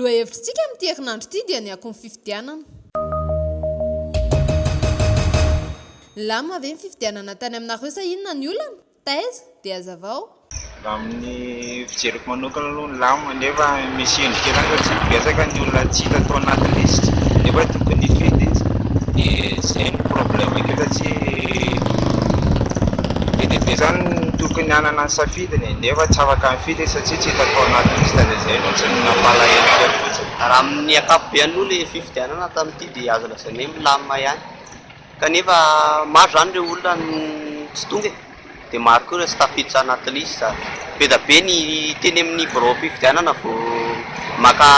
Lohahevitr'tsika amin'ity herinandro ity dia ny akon'ny fifidianana. Nilamina ve ny fifidianana tany aminareo sa inona ny olana? Taiza dia hazavao? Raha amin'ny fijeriko manokana aloha ny lamina nefa misy endrika ihany fa tsy betsaka ny olona tsy hita tao anaty lisitra nefa tokony hifidy izy dia izay no problème eto fa tsy be dia be zany ny tokony hanana ny safidiny e, nefa tsy afaka mifidy izy satsia tsy hita tao anaty liste dia izay fotsiny no nampalahelo kely fotsiny. Raha amin'ny ankapobeny aloha ilay fifidianana tamin'ity dia azo lazaina hoe milamina ihany. kanefa maro izany ireo olona no tsy tonga e! dia maro koa ireo tsy tafiditra anaty liste, be dia be ny teny amin'ny biraom-pifidianana vao maka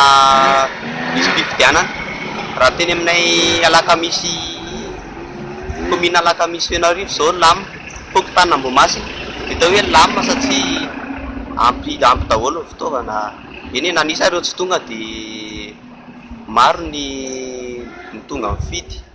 lisi-pifidianana, raha ny teny aminay alakamisy commune alakamisy fenoarivo izao lam, fokontany ambohimasina dia atao hoe lam satria ampy ampy daholo ny fitaovana, eny e na nisy ary ireo tsy tonga dia maro ny ny tonga mifidy.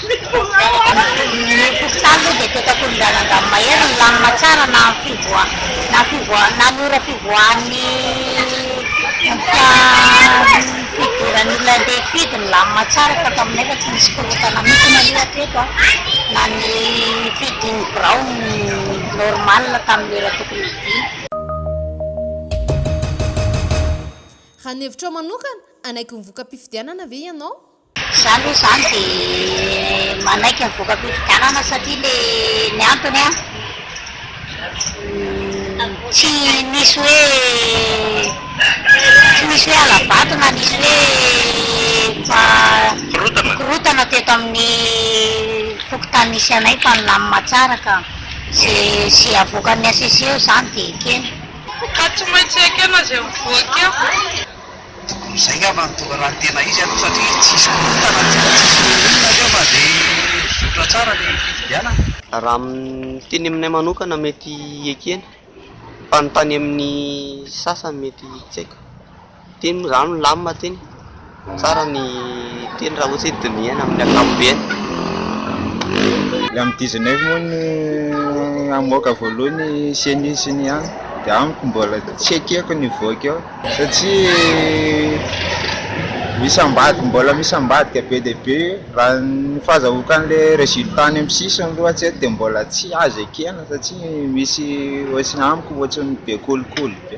Ny hopitaly moa dia petak'olon-draza angamba mahery milamina tsara na ny fivoaha na ny fivoaha na ny ora fivoahan'ny endrika fidiran'ny olona andeha hifidy milamina tsara fa taminay efa tsy nisy korontana mihitsy aloha hatreto a, na ny fidin'ny birao normal tamin'ny ora tokony hidiana. Raha ny hevitrao manokana, hanaiky ny voka-pifidianana ve ianao? Za aloha izany dia manaiky ny voka-pifidianana satria le ny antony an, tsy nisy hoe tsy nisy hoe hala-bato na nisy hoe efa mikorontana teto amin'ny fokontany nisy anay fa nilamina tsara ka. Izay avoakan'ny HCC eo izany dia ekena. Ka tsy maintsy ekena izay mivoaka eo. Tokony izay angamba no tonga raha ny tena izy aloha satria tsisy korontana tsy mba tsisy na inona na inona fa dia mizotra tsara ny fifidianana. Raha ny teny aminay manokana mety ekena fa ny tany amin'ny sasany mety tsy haiko. Teny moa izany milamina teny, tsara ny teny raha ohatra hoe dinihana amin'ny ankapobeny. Ny amin'ny dizinefo moa no hamoaka voalohany ny ceni sy ny an dia amiko mbola tsy ekeko ny hivoaka eo. satria misy ambadika mbola misy ambadika be dia be raha ny fahazahoan'ilay résultat any amin'ny sisiny aloha hatreto dia mbola tsy azo ekena satria misy ohatran'ny amiko ohatran'ny be kolikoly be.